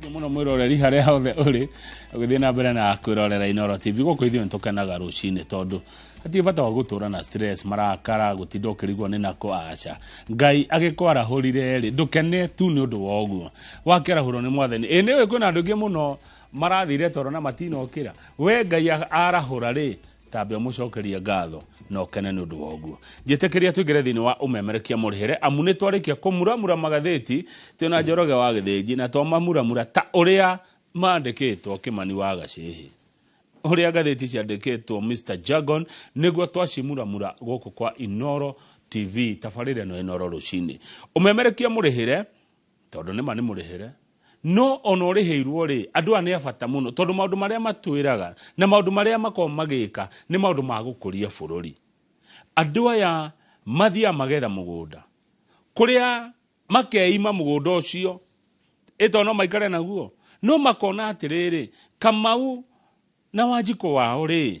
Nĩ muno mwiroreri harĩa hothe ũrĩ ũgĩthiĩ na mbere na kwĩrorera Inoro TV gũkũ ithuĩ nĩ tũkenaga rũcinĩ tondũ hatirĩ bata wa gũtũra na stress marakara gũtinda ũkĩrigwo nĩ nako aca ngai agĩkwarahũrire rĩ ndũkene tu nĩ ũndũ wa ũguo wakĩarahũrwo nĩ mwathani ĩ nĩ ũĩ kwĩna andũ aingĩ mũno marathire toro na matinokĩra we ngai a- arahũra rĩ tambe mucokerie ngatho na ũkene nĩ ũndũ wa ũguo njĩtĩkĩria tũingĩre thĩinĩ wa ũmemerekia mũrĩhĩre amu nĩ twarĩkia kũmuramura magathĩti twĩna njoroge wa gĩthĩnji na twamamuramura ta ũrĩa mandĩkĩtwo kĩmani wa gacĩhĩ ũrĩa ngathĩti ciandĩkĩtwo mr jagon nĩguo twacimuramura gũkũ kwa inoro tv tabarĩra ĩno inoro rũcinĩ ũmemerekia mũrĩhĩre tondũ nĩma nĩ mũrĩhĩre no ona ũrĩhĩirwo rĩ andũ aya nĩ abata mũno tondũ maũndũ marĩa matwĩraga na maũndũ marĩa makoragwo magĩka nĩ maũndũ ma gũkũria bũrũri andũ aya mathiaga magetha mũgũnda kũrĩa makeima mũgũnda ũcio ĩto no maikare naguo no makona atĩrĩrĩ kamau na wanjikũ wao rĩ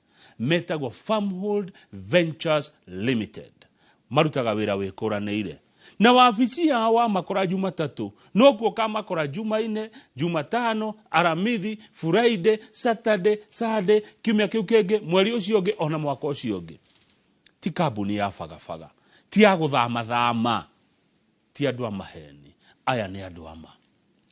metagwo Farmhold Ventures Limited marutaga wĩra wĩkũranĩire na wabici yao wamakora jumatatũ no kuo kamakora jumaine jumatano aramithi friday saturday sunday kiumia kĩu kĩngĩ mweri ũcio ũngĩ ona mwaka ũcio ũngĩ ti kambuni ya bagabaga ti ya gũthamathama Ti andũ a maheeni. Aya nĩ andũ a ma.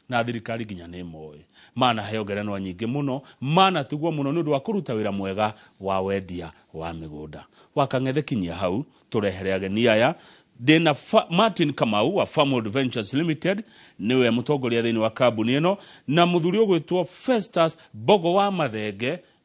Na thirikari nginya nĩ ĩmoĩ. Manaheo ngerenwa nyingĩ mũno. Manatugwo mũno nĩ ũndũ wa kũruta wĩra mwega wa wendia wa mĩgũnda. Wakang'ethe kinyia hau tũrehere ageni aya. Ndĩ na Martin Kamau wa Farmworld Ventures Limited, nĩwe mũtongoria thĩinĩ wa kambuni ĩno, na mũthuri ũgwĩtwo Festus Mbogo wa Mathenge,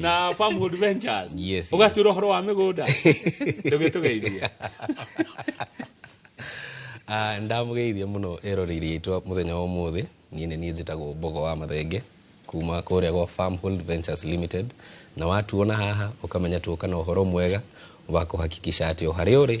na farmwood ventures Yes, ũgatura ũhoro wa mĩgũnda ndũgĩtũgeithia Ah, ndamugeithia muno eroreri aitwa muthenya wa umuthi niä nä niä njätagwo mbogo wa mathenge kuma kå rä a gwa farmhold ventures limited na watuona haha å kamenya tuoka na å horo mwega wa kå hakikisha atä o harä a å rä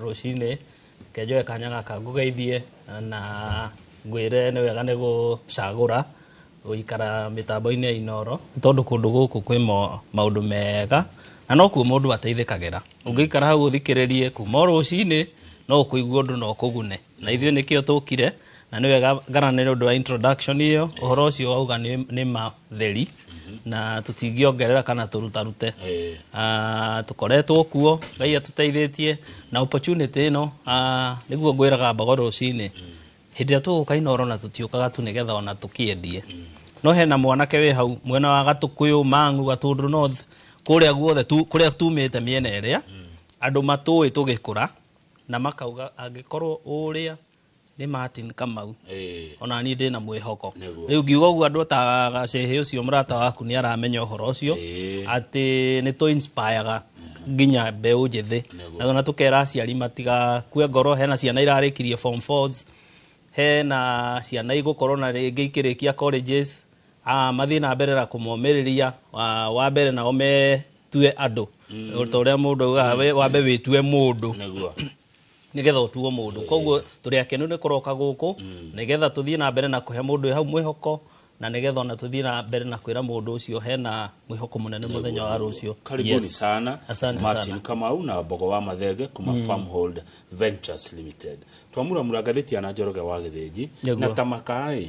rũcinĩ reke njoe kanya gaka ngũgeithie na ngwĩre nĩ wega nĩ gũcagũra gũikara mĩtambo-inĩ ya inoro nĩ tondũ kũndũ gũkũ kwĩ mo- maũndũ mega na no kuo mũndũ ateithĩkagĩra ũngĩikara hau ũthikĩrĩrie kuma o rũcinĩ no ũkũigua ũndũ na ũkũgune na ithuĩ nĩkĩo tũkire na nĩ wega nĩ ũndũ wa introduction ĩyo ũhoro ũcio wauga nĩ matheri na tũtingĩongerera kana tũrutarute ah, tũkoretwo kuo ngai atũteithĩtie na opportunity ĩno ah, nĩguo ngwĩraga mbogo rũcinĩ hĩndĩ ĩrĩa tũgũka inoro na tũtiũkaga tu nĩgetha ona tũkĩendie no hena mwanake wĩ hau mwena wa gatũkũyũ mang'u gatũndũ north kũrĩa guothe kũrĩa tumĩte mĩena ĩrĩa andũ matũĩ tũgĩkũra na makauga angĩkorwo ũrĩa nĩ Martin Kamau Eh. ona niĩ ndĩ na mwĩhoko Nĩguo. rĩu ngiuga ũguo andũ ta gacehe ũcio mũrata waku nĩ aramenya ũhoro ũcio Eh. atĩ nĩ tũ inspire-ga nginya mbeũ njĩthĩ Nĩguo. na ona tũkera aciari matigakue ngoro hena ciana irarĩkirie form 4s hena ciana igũkorwo na rĩngĩ ikĩrĩkia colleges Ah, mathiĩ na mbere na kũmomĩrĩria ah, wa mbere nao metue andũ O ta ũrĩa mũndũ augaga we wambe wĩtue mũndũ nĩguo nĩgetha ũtuo mũndũ koguo tũrĩ akenu nĩ kũroka gũkũ nĩgetha tũthiĩ na mbere na kũhe mũndũ wĩ hau mwĩhoko na nĩgetha ona tũthiĩ na mbere na kwĩra mũndũ ũcio hena mwĩhoko mũnene mũthenya wa rũciũ karibuni Yes. sana Asante martin sana. kamau na mbogo wa mathenge kuma farmhold ventures limited twamuramura ngathĩti ya na njoroge wa gĩthĩnji Nĩguo. na tamakaĩ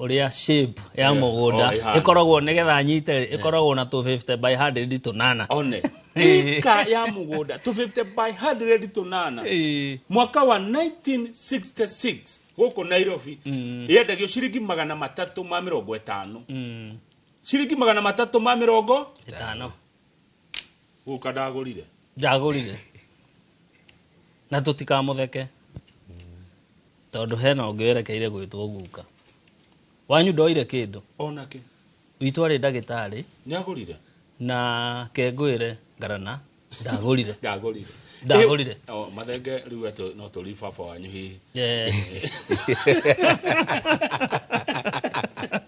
ũrĩa shape ya Yeah. mũgũnda Oh, ĩhana. ĩkoragwo nĩgetha nyite rĩ, ĩkoragwo na tũ 50 by 100 tũnana one ika ya mugunda to 50 by 100 tunana Ĩĩ. mwaka wa 1966 gũkũ nairobi yendagio ciringi magana matatũ ma mĩrongo ĩtano Mm, ciringi magana matatũ ma mĩrongo ĩtano guka ndagurire ndagurire na tũtikamutheke tondũ hena ũngĩ werekeire gwĩtwo guka wanyu ndoire kĩndũ onake witũ arĩ ndagĩtarĩ nĩ agurire na kengwĩre ngarana ndagurire ndagurire Ndagũrire. Eh, oh, mathenge rĩu atĩ no tũri baba wanyu hihi Eh,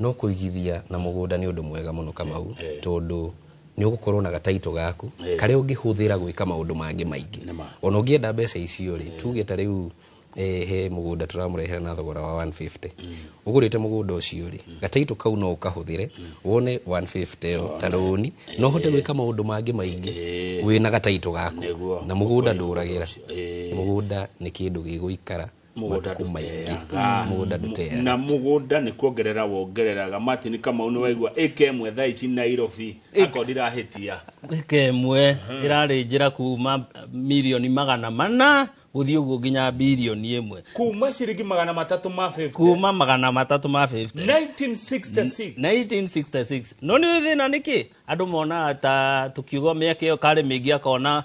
No kũigithia na mũgũnda nĩ ũndũ mwega mũno Kamau, tondũ nĩ ũgũkorwo na gataitũ gaku karĩa ũngĩhũthĩra gwĩka maũndũ mangĩ maingĩ. Ona ũngĩenda mbeca icio rĩ, tuge ta rĩu eh, he mũgũnda tũramũrehera na thogora wa 150 ũgũrĩte mũgũnda ũcio rĩ gataitũ kau no ũkahũthĩre wone 150 ĩyo ta rũni no ũhote gwĩka maũndũ mangĩ maingĩ wĩna gataitũ gaku na mũgũnda ndũragĩra mũgũnda nĩ kĩndũ gĩgũikara mũgũnda matukũ ndũteaga maingĩ. Mũgũnda ndũteaga. na mũgũnda nĩ kuongerera wongereraga martin kamau nĩ waigua ĩka ĩmwe thaa ici nairobi akorwo ndirahĩtia ĩka ĩmwe ĩrarĩ njĩra kuma mirioni magana mana gũthiĩ ũguo nginya birioni ĩmwe kuma ciringi magana matatũ ma 50 kuma magana matatũ ma 50 1966 1966 no nĩ ũĩ thĩna nĩkĩ andũ monaga ta tũkiuga mĩaka ĩyo karĩ mĩingĩ akona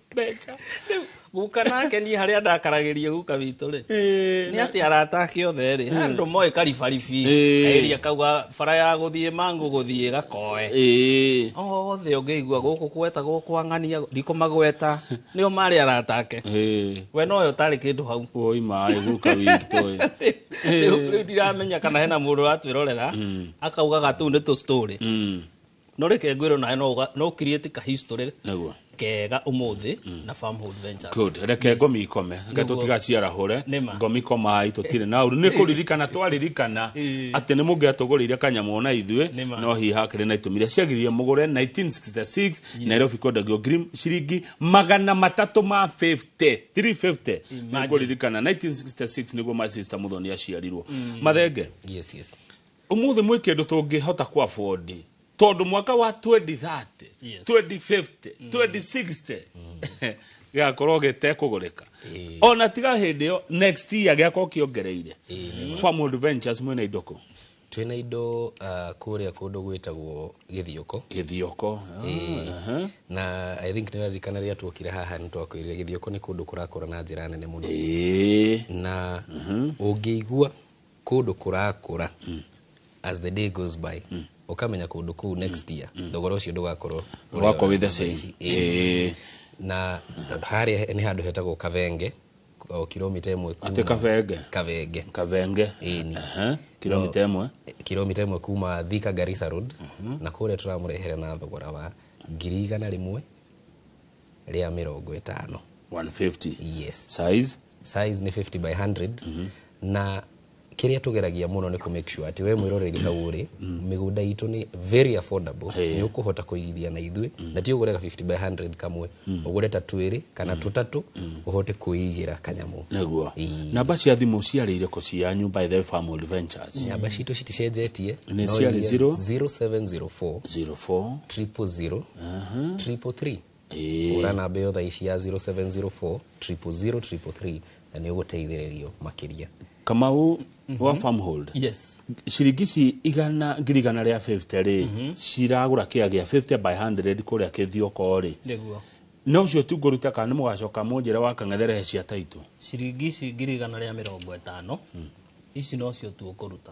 mbeca rĩu guka nake niĩ harĩa ndakaragĩrio guka witũ rĩ nĩ atĩ arata ake othe rĩ andũ moĩ karibaribi Ĩĩ. kairia kauga bara ya gũthiĩ mangũ gũthiĩ gakoe Ĩĩ. othe ũngĩigua gũkũ gwetagwo kwa ng'ania ndikũ magweta nĩo marĩ arata ake Ĩĩ. we nowe ũtarĩ kĩndũ hau woi maĩ guka witũ ĩ. rĩu rĩu ndiramenya kana hena mũndũ ũratwĩrorera akaugaga tũu nĩ tũ story Mm. no reke ngwĩrwo nawe no ũga- no create ka history Nĩguo. kega ũmũthĩ na farmhood ventures Good. reke ngomi ikome reke Nĩguo. tũtigaciarahũre Nĩma. ngomi komai tũtirĩ na ũru nĩ kũririkana twaririkana Ĩĩ. atĩ nĩ mũngĩatũgũrĩire kanyamũ na ithuĩ Nĩma. no hihi hakĩrĩ na itũmi iria ciagiririe mũgũre 1966 nairobi kwendagio ngiri ciringi magana matatũ ma 50 350 nĩ Imagine. kũririkana 1966 nĩguo masista mũthoni aciarirwo mathenge yes yes Ũmũthĩ mwĩ kĩndũ tũngĩhota kũ afford tondũ mwaka wa 2030 Yes. 2050 2060 gĩgakorwo gĩtekũgũrĩka ona tiga hĩndĩ ĩyo next year gĩgakorwo kĩongereire farm adventures mwĩna indo kũ twĩna indo uh, kũrĩa kũndũ gwĩtagwo gĩthiũkũ gĩthioko Aha. na i think nĩraririkana rĩrĩa tuokire haha nĩ twakwĩrire gĩthiũkũ nĩ kũndũ kũrakũra na njĩra nene mũno Ĩĩ. na ũngĩigua kũndũ kũrakũra as the day goes by ũkamenya kũndũ kũu next year thogora ũcio ndũgakorwo ũrĩa Ũgakorwo wĩ the ũrarĩ same. ici. Ĩĩ. Ĩĩ. na harĩa nĩ handũ hetagwo kavenge o kilomita ĩmwe kuma- Atĩ Kavenge? kavenge kavenge Ĩni. Aha, kilomita ĩmwe kilomita ĩmwe kuma thika garissa road na kũrĩa tũramũrehere na thogora wa ngiri igana rĩmwe rĩa mĩrongo ĩtano 150 yes size size nĩ 50 by 100 na kĩrĩa tũgeragia mũno nĩ kũ make sure atĩ we mwĩroreri hau ũrĩ mĩgũnda itũ nĩ very affordable nĩ ũkũhota kũigithia na ithuĩ na ti ũgũre ka 50 by 100 kamwe ũgũre ta twĩrĩ kana tũtatũ ũhote kwĩigĩra kanyamũ nĩguo Ii. namba cia thimũ ciarĩ irĩkũ cia nyumba ithe family ventures nyamba citũ citicenjetie Nĩ no ciarĩ iria 0? 0704 04 triple zero triple three hũra namba ĩyo thaa ici ya 0704 triple zero triple three na nĩ ũgũteithĩrĩrio makĩria kamau wa farm hold yes ciringi ici igana ngiri igana rĩa 50 rĩ ciragũra kĩa gĩa 50 by 100 kũrĩa kĩthioko rĩ nĩguo no cio tu ngũruta kana nĩ mũgacoka mũnjĩra wa kang'ethere he cia taitũ ciringi ici ngiri igana rĩa mĩrongo ĩtano ici nocio tu ũkũruta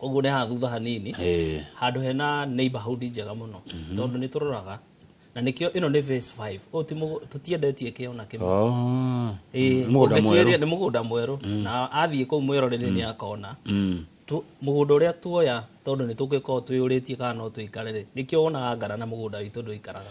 ũguo nĩ haha thutha hanini Eh, handå hena neighborhood njega må no tondå nä tå roraga na nä kä o ä no nä phase five. Ũũ ti mũgũ- tũtiendetie kä ona kä mwe oh, Ĩĩ, mũgũnda ũngĩtuĩria mwerũ. nĩ mũgũnda mwerũ na athiĩ kũu mwerorĩrĩ nĩ akona Mm. Tu- mũgũnda ũrĩa tuoya tondũ nĩ tũngĩkorwo twĩyũrĩtie kana no tũikare rĩ nĩkĩo wonaga ngara na mũgũnda witũ ndũikaraga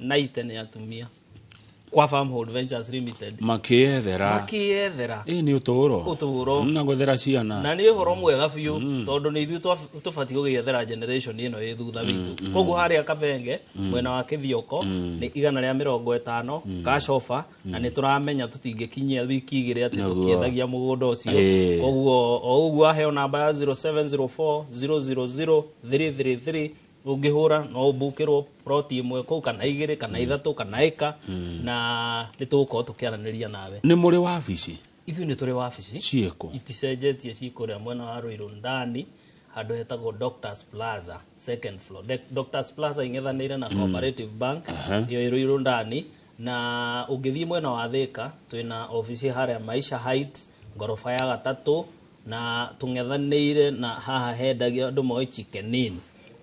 90 nĩ atumia kwa farmhold ventures limited makĩyethera makĩyethera ĩ nĩ ũtũũro Ũtũũro. na gwethera ciana na nĩ ũhoro mwega biũ tondũ nĩ ithuĩ twa- tũbatiĩ gũgĩethera generation ĩno ĩ thutha witũ koguo harĩa kabenge mwena wa kĩthioko nĩ igana rĩa mĩrongo ĩtano gacoba na nĩ tũramenya tũtingĩkinyia wiki igĩrĩ atĩ Naguo. tũkĩendagia mũgũnda ũcio Ĩĩ. koguo o ũguo aheo namba ya 0704 000 333 ũngĩhũra no ũmbũkĩrwo ploti ĩmwe kũu kana igĩrĩ kana ithatũ kana ĩka na nĩ tũgũkorwo tũkĩaranĩria nawe nĩ mũrĩ wabici ithuĩ nĩ tũrĩ wabici ciĩkũ iticenjetie ci kũrĩa mwena wa rũirũ ndani handũ hetagwo doctors plaza second floor De- doctors plaza ing'ethanĩire na cooperative bank ĩyo ĩ rũirũ ndani na ũngĩthiĩ mwena wa thĩka twĩna obici harĩa maisha height ngoroba ya gatatũ na tũng'ethanĩire na haha hendagio andũ moĩ chikenini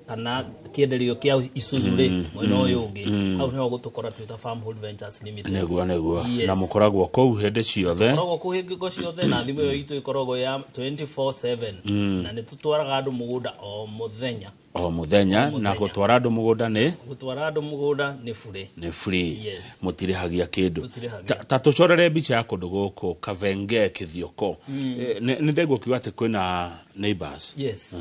kana kĩenderio kĩa Isuzu rĩ mwena ũyũ ũngĩ hau nĩho gũtũkora twĩ ta Farm Hold Ventures Limited nĩguo nĩguo Yes. na mũkoragwo kũu hĩndĩ ciothe koragwo kũu hingo ciothe na thimũ ĩyo itũ ĩkoragwo ya 24/7 na nĩ tũtwaraga andũ mũgũnda o mũthenya o muthenya na muthenya. gutwara andu mugunda ni gutwara andu mugunda ni bure ni free Yes. mutirihagia kindu Mũtirihagia. Ta- ta tucorere mbica ya kundu guku kavenge kithioko Eh, ni ni ndeguo kiuga ati kwina neighbors yes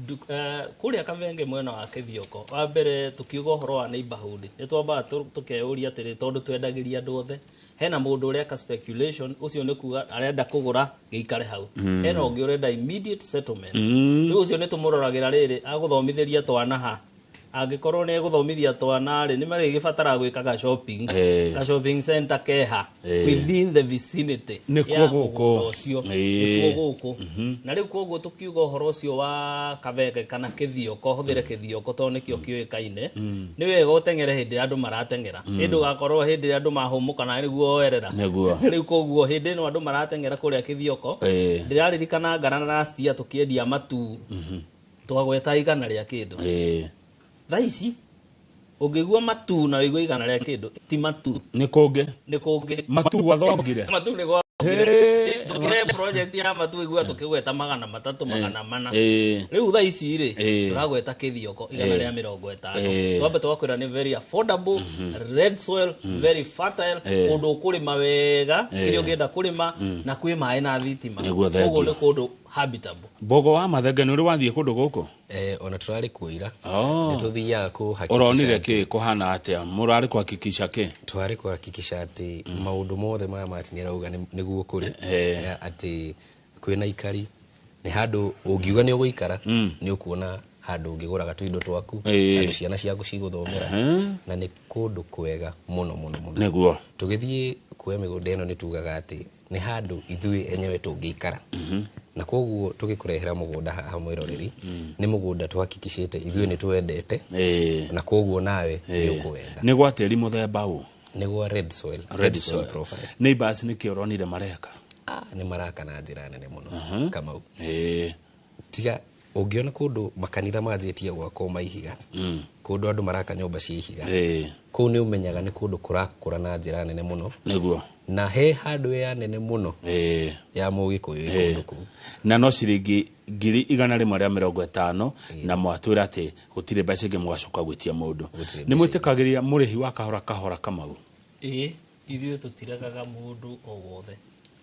Ndu- eh, kuria kavenge mwena wa kithioko wa mbere tukiuga uhoro wa neighborhood ni twambaga tu- tukeyuria atiri tondu twendagiria andu othe hena mũndũ ũreka speculation ũcio nĩ kuga arenda kũgũra gĩikare hau hena ũngĩ ũrenda immediate settlement rĩu ũcio nĩ tũmũroragĩra rĩrĩ agũthomithĩria twana ha angĩkorwo nĩ egũthomithia twana rĩ nĩ marĩgĩbatara gwĩka ga shopping Eh. ga shopping center keha Eh. within the vicinity Nĩkuo ya gũkũ. mũgũnda ũcio Eh. nĩkuo gũkũ na rĩu koguo tũkiuga ũhoro ũcio wa kabege kana kĩthioko hũthĩre kĩthioko tondũ nĩkĩo kĩũĩkaine nĩ wega ũteng'ere hĩndĩ ĩrĩa andũ marateng'era ĩ ndũgakorwo hĩndĩ ĩrĩa andũ mahũmũkana nĩguo werera Nĩguo. rĩu koguo hĩndĩ ĩno andũ marateng'era kũrĩa kĩthioko Ĩĩ. ndĩraririkana ngana na rastia tũkĩendia matu twagweta igana rĩa kĩndũ Ĩĩ. thaa ici ũngĩgua matu na wĩigua igana rĩa kĩndũ ti matu nĩ kũngĩ nĩ kũngĩ matu gwathongire matu nĩ gwa Hĩĩ. tũkĩre project ya matu wĩigua tũkĩgweta magana matatũ magana mana Ĩĩ. rĩu thaa ici rĩ Ĩĩ. tũragweta kĩthioko igana Ĩĩ. rĩa mĩrongo ĩtano gatano Eh. twambe twakwira ni very affordable red soil very fertile Eh. kundu ukurima wega Eh. kiri ungienda kurima na kwi maĩ na thitima Nĩguo thengia. Koguo ni kundu habitable mbogo wa mathenge nä å rä wathiä kå ndå gå kå Eh, ona tũrarĩ kuoira Oh. nĩ tũthiaga kũhakikisha oronire atĩ- kä kå hana atä a må rarä kå hakikica kä twarĩ kuhakikisha atĩ maũndũ mothe maya mati nĩ arauga nĩ- nĩguo kũrĩ Eh. Eh, atĩ kwĩna ikari nĩ handũ ũngiuga nĩ ũgũikara mm. nĩ ũkuona handũ ũngĩgũraga tũindo twaku Ĩĩ. handũ ciana ciaku cigũthomera Ehe. na nĩ kũndũ kwega mũno mũno mũno nĩguo tũgĩthiĩ kuoya mĩgũnda ĩno nĩ tugaga atĩ nĩ handũ ithuĩ enyewe tũngĩikara na koguo tũgĩkũrehera mũgũnda haha mwĩroreri nĩ mũgũnda twakikicĩte ithuĩ nĩ twendete Ĩĩ. na koguo nawe nĩ ũkũwenda nä gwa tä ri må themba å nĩguo red soil red soil profile neighbors nä kä oronire mareka ah, nĩ maraka na njĩra nene mũno kamau Ĩĩ. tiga ũngĩona kũndũ makanitha manjĩtie gwakwo maihiga kũndũ andũ maraka nyũmba cia ihiga Ĩĩ. kũu nĩ ũmenyaga nĩ kũndũ kũrakũra na njĩra nene mũno nĩguo na he handũ ya nene mũno Ĩĩ. ya mũgĩkũyũ ĩkũndũ kũu na no ciringi ngiri igana rĩmwe rĩa mĩrongo ĩtano na mwatwĩra atĩ gũtirĩ mbeca ingĩ mũgacoka gwĩtia mũndũ Gũtirĩ nĩ mbeca mwĩtĩkagĩria mũrĩhi wa kahora kahora kamau ĩĩ ithuĩ tũtiregaga mũndũ o wothe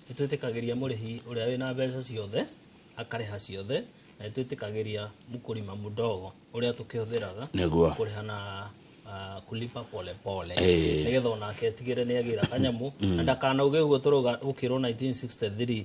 nĩ twĩtĩkagĩria mũrĩhi ũrĩa wĩna mbeca ciothe akarĩha ciothe na nĩ twĩtĩkagĩria mkulima mdogo ũrĩa tũkĩhũthĩraga Nĩguo. kũrĩha na ah, kulipa pole pole Ĩĩ. nĩgetha onake atigĩre nĩ agĩra kanyamũ na ndakanauge ũguo tũroga gũkĩrwo 1963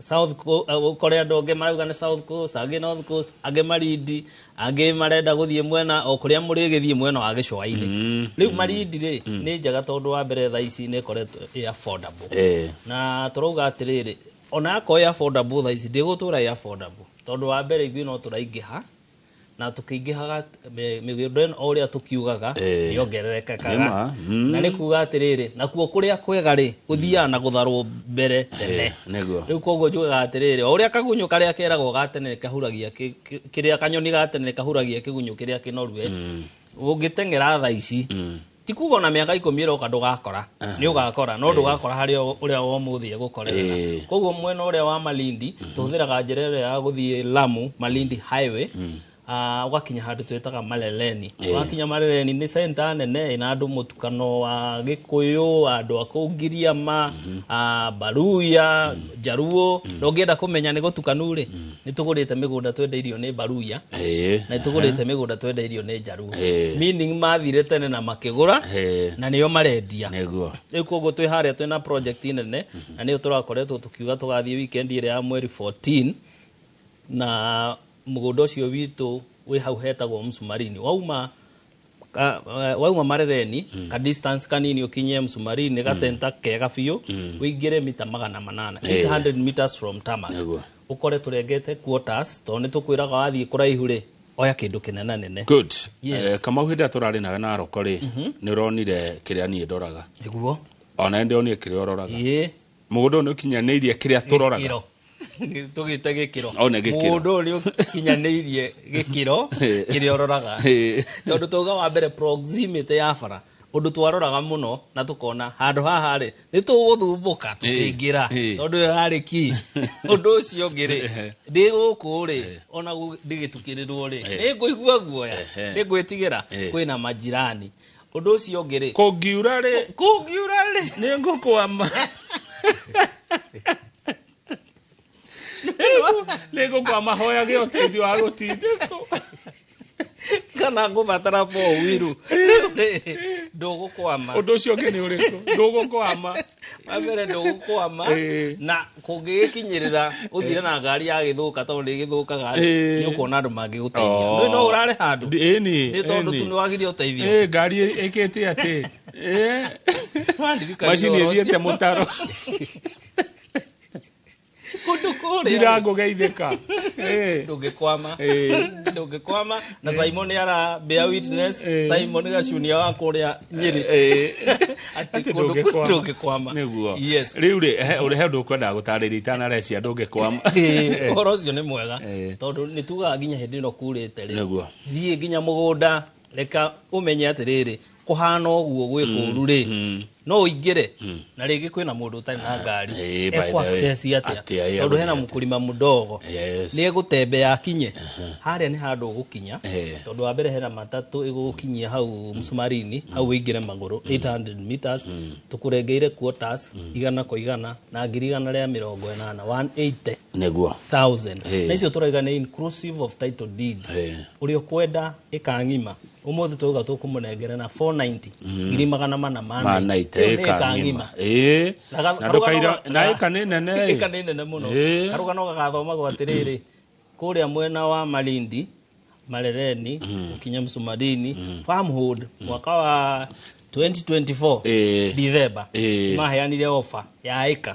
South Coast, eh, ũkore andũ angĩ marauga nĩ South Coast, angĩ North Coast, angĩ Marindi, angĩ marenda gũthiĩ mwena o kũrĩa mũrĩgĩthiĩ mwena wa gĩcũa-inĩ. Mm, Rĩu Marindi rĩ, nĩ njega tondũ wa mbere thaa ici nĩ ĩkoretwo ĩ affordable. Eh. Na tũrauga atĩrĩrĩ, ona akorwo ĩ affordable thaa ici, ndĩgũtũra ĩ affordable. Tondũ wa mbere ithuĩ no tũraingĩha, na tũkĩingĩhaga mĩ- mĩgĩũndo ĩno o ũrĩa tũkiugaga Eh. yongererekaga Nĩma, mm. na nĩ kuga atĩrĩrĩ nakuo kũrĩa kwega rĩ gũthiaga na gũtharwo mbere tene Eh, nĩguo. rĩu koguo njugaga atĩrĩrĩ o ũrĩa kagunyũ karĩa keragwo ga tene kahuragia kĩ- kĩ- kĩrĩa kanyoni ga tene kahuragia kĩgunyũ kĩrĩa kĩnorue ũngĩteng'era tha ici ti kuga ona mĩaka ikũmi ĩroka ndũgakora nĩ ũgakora no ndũgakora harĩ o- ũrĩa wa ũmũthĩ egũkorerera Eh. koguo mwena ũrĩa wa malindi tũhũthĩraga njĩra ĩrĩa ya gũthiĩ lamu malindi highway Ah, ũgakinya handũ twĩtaga marereni ũgakinya marereni nĩ centa nene ĩna andũ mũtukano wa gĩkũyũ andũ a kũu ngiriama ah, mbaruya njaruo na ũngĩenda kũmenya nĩ gũtukanu rĩ nĩ tũgũrĩte mĩgũnda twendeirio nĩ mbaruya Eh, na nĩ tũgũrĩte mĩgũnda twendeirio nĩ njaruo Eh. meaning mathire tene na makĩgũra Eh. na nĩo marendia nĩguo rĩu koguo twĩ harĩa twĩ na project nene na nĩyo tũrakoretwo tũkiuga tũgathiĩ weekend ĩrĩa ya mweri 14 na mũgũnda ũcio witũ wĩ hau hetagwo msumarini wauma ka, eh, wauma marereni mm. ka distance kanini ukinye msumari ni ga center mm. kega biũ mm. wĩingĩre mita magana manana Eh. 800 meters from tarmac Nĩguo. ukore turengete quarters to ni tukwiraga wathiĩ kuraihu rĩ oya kĩndũ kĩnene nene good Yes. Eh, kamau hĩndĩ ĩrĩa tũrarĩ nawe na aroko rĩ nĩ ũronire kĩrĩa niĩ ndoraga nĩguo ona nĩ ndĩronire kĩrĩa ũroraga ĩĩ Mũgũnda ũyũ nĩ ũkinyanĩirie kĩrĩa tũroraga. Gĩkĩro. tũgĩte gĩkĩro Au nĩ gĩkĩro. mũgũnda ũyũ nĩ ũkinyanĩirie gĩkĩro Eh. kĩrĩa ũroraga Eh. tondũ twauga wa mbere proximity ya bara ũndũ twaroraga mũno na tũkona handũ haha rĩ nĩ tũgũthumbũka tũkĩingĩra Eh. tondũ ĩyo yarĩ ki ũndũ ũcio ũngĩ rĩ ndĩ gũkũ rĩ ona gũ- ndĩgĩtukĩrĩrwo rĩ nĩ ngũigua guoya Ehe. nĩ ngwĩtigĩra Eh. kwĩna majirani Ũndũ ũcio ũngĩ rĩ. Kũngiura rĩ. Kũngiura rĩ. Nĩ ngũkwama. Nĩ ngũkwama hoyage ũteithio wa gũtindĩkwo. Kana ngũbatara four wheel. Ndũgũkwama. Ũndũ ũcio ũngĩ nĩ ũrĩkũ? Ndũgũkwama. wa mbere ndũgũkwama Eh. na kũngĩgĩkinyĩrĩra ũthire na ngari ya gĩthũka tondũ ndĩgĩthũkaga Eh. nĩ ũkuona andũ mangĩgũteithia Oh. ndũĩ no ũrare handũ Ndi- ĩni, nĩ tondũ ĩni. tu nĩ wagire ũteithio Eh, ngari ĩ- ĩkĩte atĩ Eh, Wandirikania macini ũhoro ũcio. ĩthiĩte mũtaro kundu kuria ndirango geithika eh ndungikwama Eh. ndungikwama na simon ara bear witness Eh. simon gacunia wa kuria nyiri eh Ati ati kundu ndungikwama ndungikwama niguo yes riu ri uri he undu ukwendaga gutariria itanarecia ndungikwama Ĩĩ, ũhoro ũcio nĩ mwega Ĩĩ. tondũ nĩ tugaga nginya hĩndĩ ĩno kurĩte rĩ Nĩguo. thiĩ nginya mũgũnda reka ũmenye atĩrĩrĩ kũhana ũguo gwĩ kũru rĩ Mm. no ũingĩre na rĩngĩ kwĩna mũndũ ũtarĩ na ngari Eh, by the ekwa way, access atĩa atĩa, eh, tondũ hena atĩa. mũkũrima mũdogo Yes. nĩ egũtembe yakinye harĩa nĩ handũ ũgũkinya Eh. tondũ wa mbere hena matatũ ĩgũgũkinyia hau msumarini hau wĩingĩre magũrũ 800 meters tũkũrengeire quotas igana kwa igana na ngiri igana rĩa mĩrongo ĩnana 180 nĩguo thousand Eh. na icio tũraiga nĩ inclusive of title deed Eh. ũrĩa ũkwenda ĩkang'ima umuthi twauga tukumurengera na 490 ngiri magana mana ma ma night. night Iyo nĩ ĩka ĩka ng'ima ng'ima. Ĩĩ. Na ga- na karũgano ndũkaira ga- na ĩka nĩ nene ĩka nĩ nene mũno Ĩĩ. karũgano gagathomagwo atĩrĩrĩ kũrĩa mwena wa malindi marereni gũkinya msumarini farmhood mwaka wa 2024 Ĩĩ. dithemba Ĩĩ. maheanire ofa ya ĩka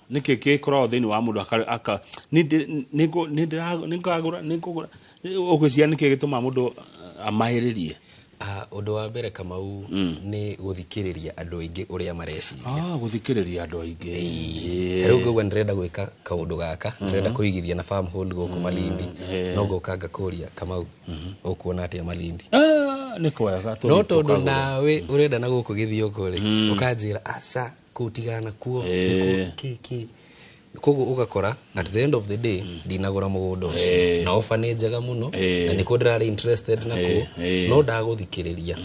nĩkĩ gĩkoragwo thĩinĩ wa mũndũ aka- aka- nĩ ndĩ- nĩ ngũ- nĩ ndĩra- nĩ ngagũra nĩ ngũgũra ũgwĩciria nĩkĩ gĩtũmaga mũndũ uh, amahĩrĩrie Ah, ũndũ wa mbere kamau nĩ gũthikĩrĩria andũ aingĩ ũrĩa mareciria Ah, gũthikĩrĩria andũ aingĩ ta rĩu ngauga ndĩrenda gwĩka kaũndũ gaka ndĩrenda kũigithia na farm hold gũkũ malindi no ngoka ngakũria kamau ũkuona atĩa malindi Ah, nĩ kwega no tondũ nawe ũrenda na gũkũ gĩthiũkũ rĩ ũkanjĩra aca kũtigana nakuo Eh. koguo ũgakora at the end of the day ndinagũra mũgũnda ũcio na oba nĩ njega mũno Eh. na nĩkuo ndĩrarĩ interested nakuo eh. no ndagũthikĩrĩria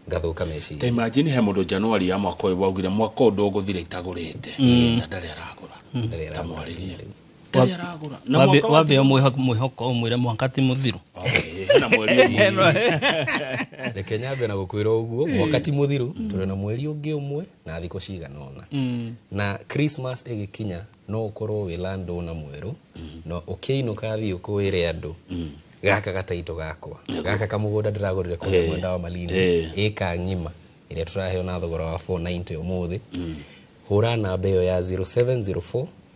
ngathũka meciria ta imagine he mũndũ januari ya mwaka ũyũ waugire mwaka ũyũ ndũgũthira itagũrĩte na ndarĩ aragũra Ndarĩ ta aragũra. mwarĩrie Ndarĩ aragũra. Na Wambe- mwaka wa wambe timu- ũmwĩho- mwĩhoko ũmwĩre mwaka ti mũthiru Eh, hena mweri ũmwe. reke nyambe na gũkwĩra ũguo mwaka ti mũthiru tũrĩ na mweri ũngĩ ũmwe na thikũ cigana ũna na christmas ĩgĩkinya no ũkorwo wĩ landå na mwerũ na ũkĩinũka thiĩ ũkũwĩre andũ gaka gataitũ gakwa gaka kamũgũnda ndĩragũrire kũrĩa mwenda wa malini Eh. ĩka ng'ima ĩrĩa tũraheo na thogora wa 490 ũmũthĩ hũra namba ĩyo ya 0704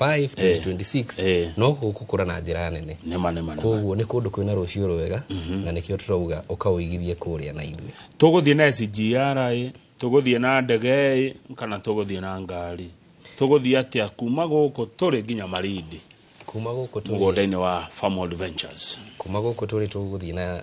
5 2026 Eh. no gũkũra na njĩra nene nĩma nĩma nĩma koguo nĩ kũndũ kwĩna rũciũ rwega na nĩkĩo tũrauga ũkaũigithie kũrĩa na ithuĩ tũgũthiĩ na SGR ĩ tũgũthiĩ na ndege ĩ kana tũgũthiĩ na ngari tũgũthiĩ atĩa kuma gũkũ tũrĩ nginya marindi kuma gũkũ tũrĩ mũgũnda-inĩ wa Farmhold Ventures kuma gũkũ tũrĩ tũgũthiĩ na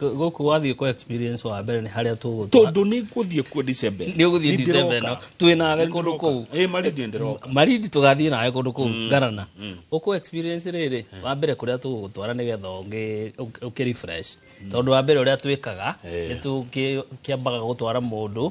Kũ- gũkũ wathiĩ kwa experience wa mbere nĩ harĩa tũgũtwa tondå nä ngå thiä kuo December ĩno. nĩ ũgũthiĩ Nĩ December ĩno ndĩroka. twĩ nawe Nĩ kũndũ ndĩroka. kũu Ĩ, marindi nĩ ndĩroka. marindi tũgathiĩ nawe kũndũ kũu ngarana ũkũ experience rĩrĩ wa mbere kũrĩa tũgũgũtwara nĩ getha ũngĩ- ũk- ũkĩ refresh tondũ wa mbere ũrĩa twĩkaga Eh. nĩ tũkĩambaga gũtwara mũndũ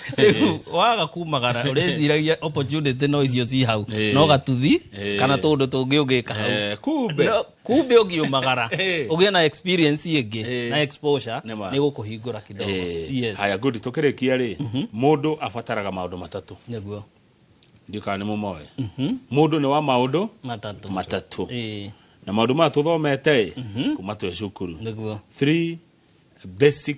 rĩu waga kumagara ũrĩciragia opportunity no icio ci hau Eh. no gatuthi Eh. kana tũndũ tũngĩ ũngĩka hau Eh, kumbe No, kumbe ũngiumagara Eh. ũgĩe na experience ĩngĩ Eh. na exposure Nĩ ma. nĩ gũkũhingũra kidogo Eh, yes haya good tũkĩrĩkia rĩ mũndũ abataraga maũndũ matatũ nĩguo ndikana nĩ mũmoe mũndũ nĩ wa maũndũ matatũ matatũ Eh, na maũndũ maya tũthomete kuma twĩ cukuru nĩguo three basic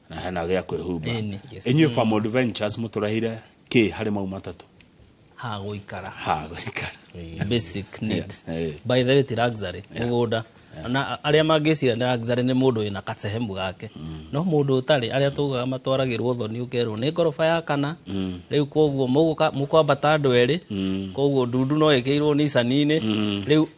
na hena gä a kwä humba Ĩni, yes. inyuä family ventures må tå reheire kä harä mau matatå ha gũikara ha gå ikara basic need Eh. by the way ti luxury mũgũnda na arĩa mangĩcira nĩ luxury nĩ mũndũ wĩna kasehemu gake no mũndũ ũtarĩ arĩa tugaga matwaragĩrwo thoni ũkerwo nĩ ngoroba ya kana rĩu koguo mũgũka- mũkwambata andũ erĩ koguo ndundu no ĩkĩirwo nicani-inĩ rĩu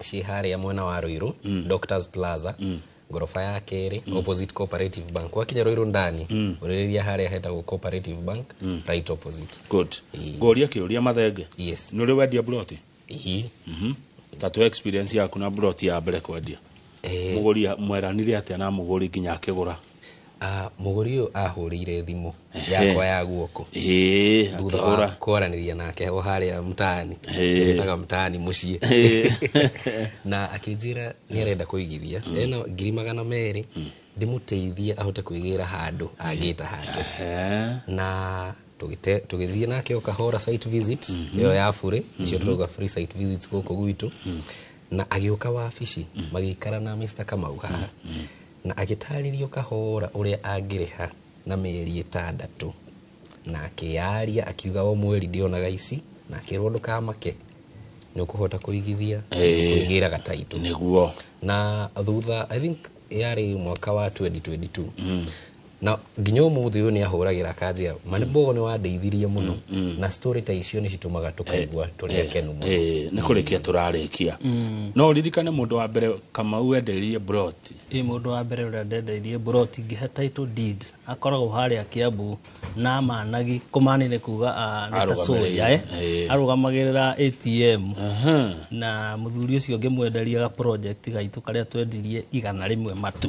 ciĩ harĩa mwena wa Ruiru mm. Doctors Plaza mm ngoroba ya kerĩ mm. opposite cooperative bank wakinya Ruiru ndani mm. ũrĩrĩria harĩa hetagwo cooperative bank mm. right opposite good ngoria kiuria mathenge yes nuri wendia broti ihi mhm mm -hmm. tatu experience yaku na broti ya mbere kwendia Eh. mũgũri mweranire atĩa na mũgũri nginya akĩgũra Ah, mũgũri ũyũ ahũrĩire thimũ Ehe. yakwa ya guoko Ĩĩ, thutha wa akĩgũra kwaranĩria nake o harĩa mtaani Ehe. ĩtaga mtaani mũciĩ Ehe. na akĩnjĩra nĩ arenda kũigithia ena ngiri magana merĩ ndĩmũteithie ahote kwĩgĩra handũ angĩta handũ Ehe. na tũgĩte- tũgĩthiĩ nake o kahora site visit ĩyo ya burĩ nĩcio tũrauga free site visits gũkũ gwitũ na agĩũka wabici mm. magĩikara na Mr. Kamau haha mm. mm. na agĩtarĩrio kahora ũrĩa angĩrĩha na mĩeri ĩtandatũ na akĩyaria akiuga o mweri ndĩonaga ici na akĩrwo ndũkamake nĩ ũkũhota kũigithia kũigĩra gataitũ nĩguo na thutha I think yarĩ mwaka wa 2022 mm. na nginya ũmũthĩ ũyũ nĩ ahũragĩra kanjeru manĩbogo nĩ wandeithirie mũno na story ta icio nĩ citũmaga tũkaigua tũrĩ akenu mũno Eh, nĩ kũrĩkia tũrarĩkia no ũririkane mũndũ wa mbere kamau wendeirie broti ĩ mũndũ wa mbere ũrĩa ndendeirie broti ngĩhe title deed akoragwo harĩa kĩambu na managi kũmani nĩ kuga ah, nĩ ta Arũgamĩrĩire. soya eh, Eh. arũgamagĩrĩra atm Aha. na mũthuri ũcio ngĩmwenderia ga project gaitũ karĩa twendirie igana rĩmwe matu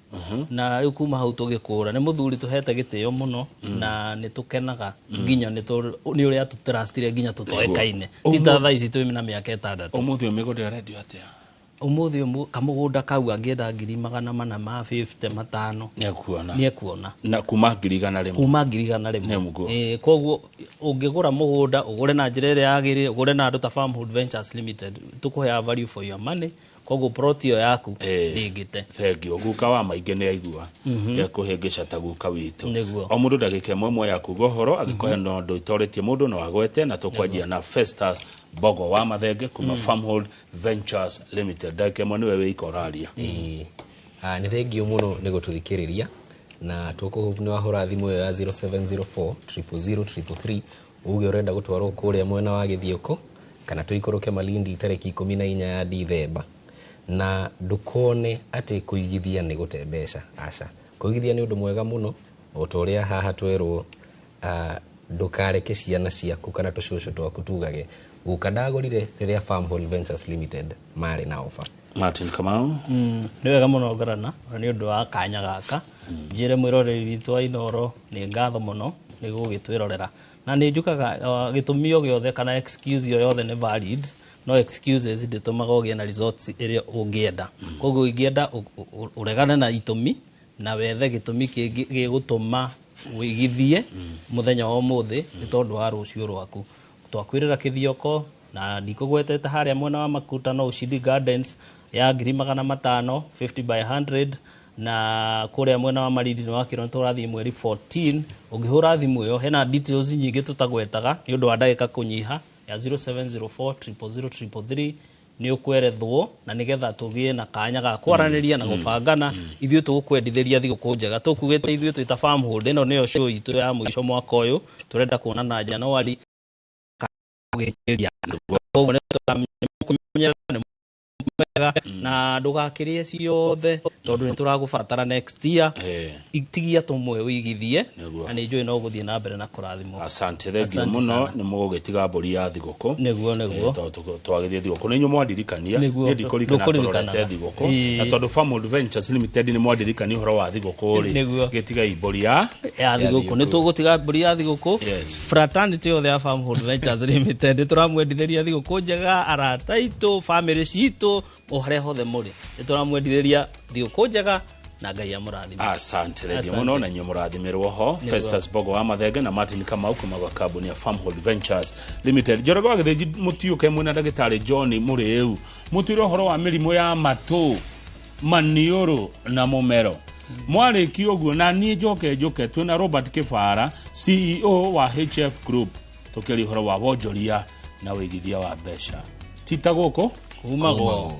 na rĩu kuma hau tũgĩkũra nĩ mũthuri tũhete gĩtĩo mũno na nĩ tũkenaga nginya nĩ tũ- nĩ ũrĩa atũtrastire nginya tũtoĩkaine ti ta thaa ici twĩ na mĩaka ĩtandatũ Ũmũthĩ ũyũ mĩgũnda ĩrendio atĩa? ũmũthĩ ũmũ- kamũgũnda kau angĩenda ngiri magana mana ma 50 matano Nĩakuona. nĩ ekuona Na kuma ngiri igana rĩmwe. kuma ngiri igana Nĩ rĩmwe mũguo. Eh, koguo ũngĩgũra mũgũnda ũgũre na njĩra ĩrĩa yagĩrĩire ũgũre na andũ ta Farmhood Ventures Limited tũkũheaga value for your money koguo plot ĩyo yaku Eh. ndĩngĩte thengio guka wa maingĩ nä aigua ekåhä ngä cata guka witå Nĩguo. o må ndå ndagä ka ĩmwe ĩmwe ya kuga å horo angä korwo na å ndå itoretie må ndå no agwete na tå kwanjia na festus bogo wa mathenge kuma farmhold ventures limited ndagä ka ĩmwe nä we wä ika å raria Ĩĩ. Ah, nĩ thengio mũno nĩ gũtũthikĩrĩria na tũkũhũra thimũ ĩyo ya 0704 000 333 Uge ũrenda gũtwarwo kũrĩa mwena wa Gĩthiũkũ kana tũikũrũke Malindi tarĩki ikũmi na inya ya Dithemba. Na ndũkone atĩ kũigithia nĩ gũte mbeca, aca. Kũigithia nĩ ũndũ mwega mũno, o ta ũrĩa haha twerwo ndũkareke ciana ciaku kana tũcũcũ twaku tugage. Guka ndagũrire rĩrĩa Farm Hall Ventures Limited marĩ na oba martin kamau mm, nĩ wega mũno ngarana na nĩ ũndũ wa kanya gaka mm. njĩre mwĩroreri witũ wa inoro nĩ ngatho mũno nĩ gũgĩtwĩrorera na nĩ njukaga uh, gĩtũmi o gĩothe kana excuse o yothe nĩ valid no excuses ndĩtũmaga ũgĩe na results ĩrĩa ũngĩenda mm. koguo ingĩenda ũregane na itũmi na wethe gĩtũmi kĩngĩ gĩgũtũma wĩgithie mm. mũthenya wa ũmũthĩ nĩ tondũ wa rũciũ rwaku twakwĩrĩra kĩthioko na ndikũgwetete harĩa mwena wa makuta no ushindi gardens ya ngiri magana matano 50 by 100 na kũrĩa mwena wa marindi nĩ wakĩrwo tũrathiĩ mweri 14 ũngĩhũra thimũ ĩyo hena details nyingĩ tũtagwetaga nĩ ũndũ wa ndagĩka kũnyiha ya 0704 nĩ ũkwerethwo na nĩgetha tũgĩe na kanya ga kwaranĩria na gũbangana ithuĩ tũgũkwendithĩria thigũkũ njega tũkugĩte ithuĩ twĩ ta farm hold ĩno nĩyo show itũ ya mũico mwaka ũyũ tũrenda kuonana Januari ũgĩkĩria andũ koguo nĩ tũramenya nĩ mwega na ndũgakĩrĩe ciothe tondũ nĩ tũragũbatara next year Eh. itigia tũmwe wĩigithie Nĩguo. na nĩ njũĩ no gũthiĩ na mbere na kũrathimwo asante thengio Asante mũno sana. nĩ mũgũgĩtiga mbũri ya thigũkũ nĩguo Eh, nĩguo tondũ tũ- twagĩthiĩ thigũkũ nĩ inyuĩ mwandirikania Nĩguo. niĩ ndikũririkana Ndũkũririkanaga. tũrorete thigũkũ Ĩĩ. na tondũ Farm Adventures Limited nĩ mwandirikania ũhoro wa thigũkũ rĩ Nĩguo. gĩtigai mbũri ya ya thigũkũ nĩ tũgũtiga mbũri ya thigũkũ Yes. fraternity yothe ya farm hold ventures limited nä tå ramwendithä ria thigå kå njega arata itå bamä citå o harä a hothe må rä nä tå ramwendithä ria thigå kå njega na ngai amå rathima asante thengio Asante. muno na inyuä må rathimä rwo ho Nĩ festus bogo wa mathenge na martin kamau kuma gwa kambuni ya farmhold ventures limited njorego wa githĩnji mũtiũke mwĩna ndagĩtarĩ john mũrĩu mũtwĩre ũhoro wa mĩrimũ ya matũ maniũrũ na mũmero mwarĩki ũguo na niĩ njoke njũke twĩ na robert kĩbara ceo wa hf group tũkĩaria ũhoro wa wonjoria na wĩigithia wa mbeca tita gũkũ kumagwo